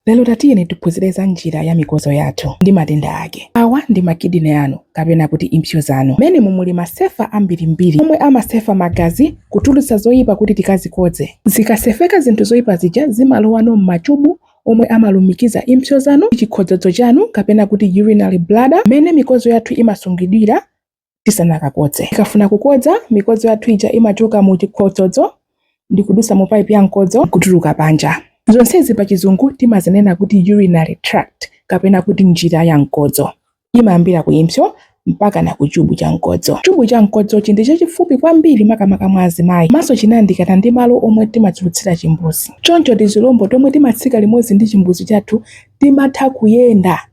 Lero tatiyeni tiphunzire za njira ya mikozo yathu ndi matenda ake. Awa ndi ma kidney anu kapena kuti impsyo zanu. Mmenemu mumuli masefa ambirimbiri omwe amasefa magazi kutulutsa zoyipa kuti tikazikodze. Zikasefeka zinthu zoyipa zija zimalowano m'machubu omwe amalumikiza impsyo zanu ndi chikhodzodzo chanu kapena kuti urinary bladder mmene mikozo yathu imasungidwira tisanakakodze. Tikafuna kukodza, mikodzo yathu ija imachoka mu chikhodzodzo ndi kudusa mu paipi ya mkodzo n'kutuluka panja. Zonsezi pa Chizungu timazinena kuti urinary tract kapena kuti njira ya mkodzo. Imayambira ku impsyo mpaka na ku chubu cha mkodzo. Chubu cha mkodzochi ndi chachifupi kwambiri makamaka mwa azimayi komanso chinayandikana ndi malo omwe timatulutsira chimbuzi. Choncho tizilombo tomwe timatsika limodzi ndi chimbuzi chathu timatha kuyenda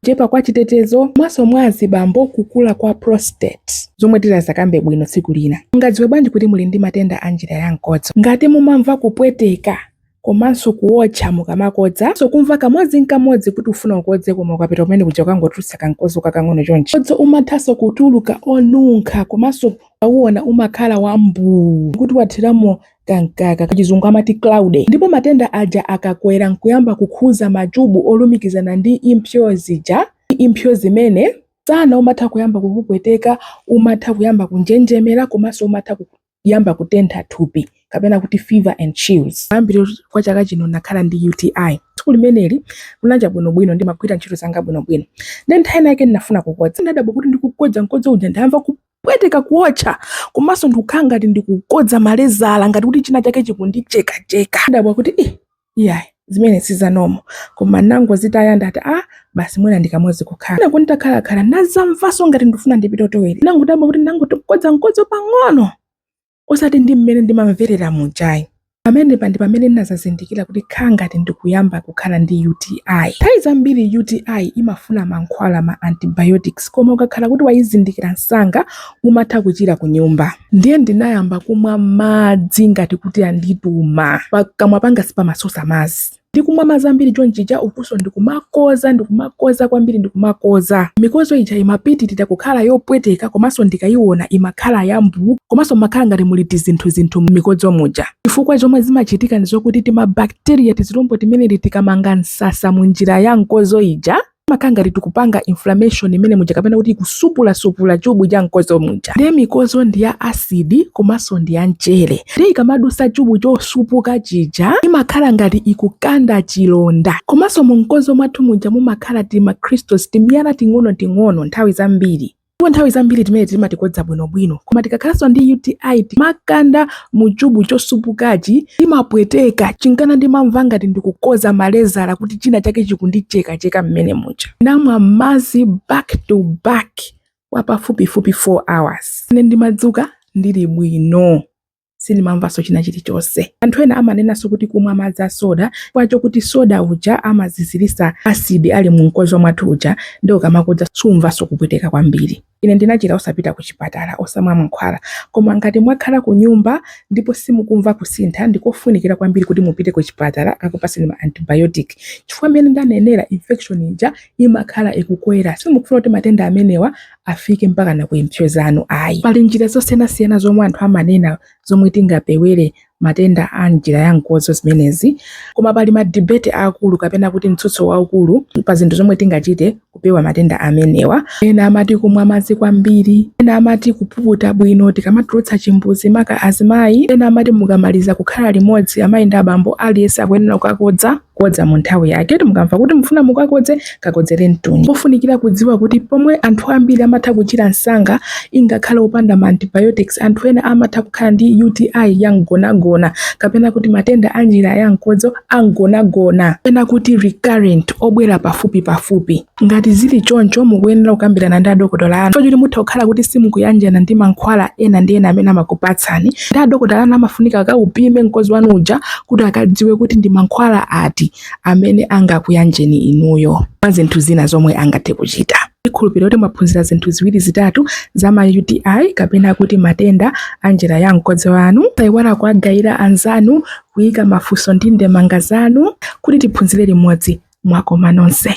kuchepa kwa chitetezo komanso mwa azibambo kukula kwa prostate zomwe tizakambe bwino tsiku lina. Mungadziwe bwanji kuti muli ndi matenda a njira ya mkodzo? Ngati mumamva kupweteka komanso kuwotcha mukamakodza, komanso kumva kamodzi n'kamodzi kuti ufuna ukodze koma ukapita kumene kuja ukungotulutsa kamkodzo kakang'ono chonchi. Mkodzo umathanso kutuluka onunkha komanso ukauona umakhala wambuu kuti wathiramo kamkaka pachizungu amati cloudy ndipo matenda aja akakwera nkuyamba kukhuza machubu olumikizana ndi impsyo zija impsyo zimene msana umatha kuyamba kukupweteka umatha kuyamba kunjenjemera komanso umatha kuyamba kutentha thupi kapena kuti fever and chills kumayambiriro kwa chaka chino nakhala ndi UTI tsiku limeneli kunacha bwinobwino ndimagwira ntchito zanga bwinobwino ndiye nthawi inayake ndinafuna kukodza ndadabwa kuti ndikukodza mkodzo uja ndamva kupweteka kuotcha komanso ndikukhala ngati ndikukodza malezala ngati kuti china chake chikundichekacheka ndadabwa kuti ii iyayi zimene si za normal koma nangozitaya ndati a ah, basi mwina ndi kamodzi kukhalako nditakhalakhala nazamvanso ngati ndifuna ndipite toilet nangodabwa kuti ndangoti kukodza mkodzo pang'ono osati ndi mmene ndimamverera muja ayi. Pamenepa ndi pamene ndinazazindikira kuti kukhala ngati ndikuyamba kukhala ndi UTI. Nthawi zambiri UTI imafuna mankhwala, ma antibiotics, koma ukakhala kuti wayizindikira msanga umatha kuchira kunyumba. Ndiye ndinayamba kumwa madzi ngati kuti andituma. Pakamwa panga sipamasosa madzi. ndikumwa madzi ambiri chonchija ukunso ndikumakoza ndikumakoza kwambiri ndikumakoza mikozo ija imapitirira kukhala yopweteka komanso ndikayiona imakhala yambuu komanso imakhala ngati muli tizinthu zinthu m'mikodzo muja chifukwa zomwe zimachitika ndi zokuti timabakteriya tizilombo timeneti tikamanga msasa mu njira ya mkozo ija makhala ngati tikupanga inflammation mmene muja kapena kuti kusupula-supula chubu cha mkozo muja ndiye mikozo ndi ya asidi komanso ndi ya mchere ndiye ikamadusa chubu chosupuka chija imakhala ngati ikukanda chilonda komanso mu mkozo mwathu muja mumakhala tima crystals timiyala ting'ono-ting'ono nthawi zambiri Ndipo nthawi zambiri timene timati tikakodza bwinobwino, koma tikakhalanso ndi UTI tikakanda mu chubu chosupukacho, timapweteka, chinkana ndimamva ngati ndikukodza malezala kuti china chake chikundichekacheka mmene muja. Ndinamwa madzi back to back kwa pafupifupi 4 hours. Ine ndimadzuka ndili bwino. sindimamvanso china chilichonse. Anthu ena amanenanso kuti kumwa madzi a soda chifukwa chokuti soda uja amaziziritsa acid ali mu mkodzo mwathu uja nde ukamakodza sumamvanso kupweteka kwambiri. Ine ndinachira osapita kuchipatala, osamwa mankhwala. Koma ngati mwakhala kunyumba ndipo simukumva kusintha, ndikofunikira kwambiri kuti mupite kuchipatala akakupatseni ma antibiotic chifukwa mmene ndanenera infection ija imakhala ikukwera. Simukufuna kuti matenda amenewa afike mpaka na ku impsyo zanu ayi. Pali njira zosiyanasiyana zomwe anthu amanena zomwe tingapewere matenda a njira ya mkodzo zimenezi, koma pali ma debate aakulu kapena kuti mtsutso waukulu pa zinthu zomwe tingachite kupewa matenda amenewa. Ena amati kumwa madzi kwambiri, ena amati kupuputa bwino tikamatulutsa chimbuzi maka azimayi, ena amati mukamaliza kukhala limodzi amayi ndi abambo aliyense akuyenera kukakodza. kodza mu nthawi yake kuti mukamva kuti mufuna mukakodze kakodzeretuni pofunikira kudziwa kuti pomwe anthu ambiri amatha kuchira msanga ingakhale opanda ma antibiotics anthu ena amatha kukhala ndi UTI ya mgonagona kapena kuti matenda a njira ya mkodzo a mgonagona kapena kuti recurrent obwera pafupi pafupi Ngati zili choncho, mukuyenera kukambirana ndi adokotala anu chifukwa choti mutha kukhala kuti simukuyanjana ndi mankhwala ena ndi ena amene amakupatsani. Ndi adokotala anu amafunika akaupime mkodzo wanu uja kuti akadziwe kuti ndi mankhwala ati amene angakuyanjeni inuyo mwa zinthu zina zomwe angathe kuchita. Ndikhulupirira kuti mwaphunzira zinthu ziwiri zitatu za ma UTI kapena kuti matenda a njira ya mkodzo wanu. Musaiwale kuwagayira anzanu, kuika mafunso ndi ndemanga zanu kuti tiphunzire limodzi. Mwakoma nonse.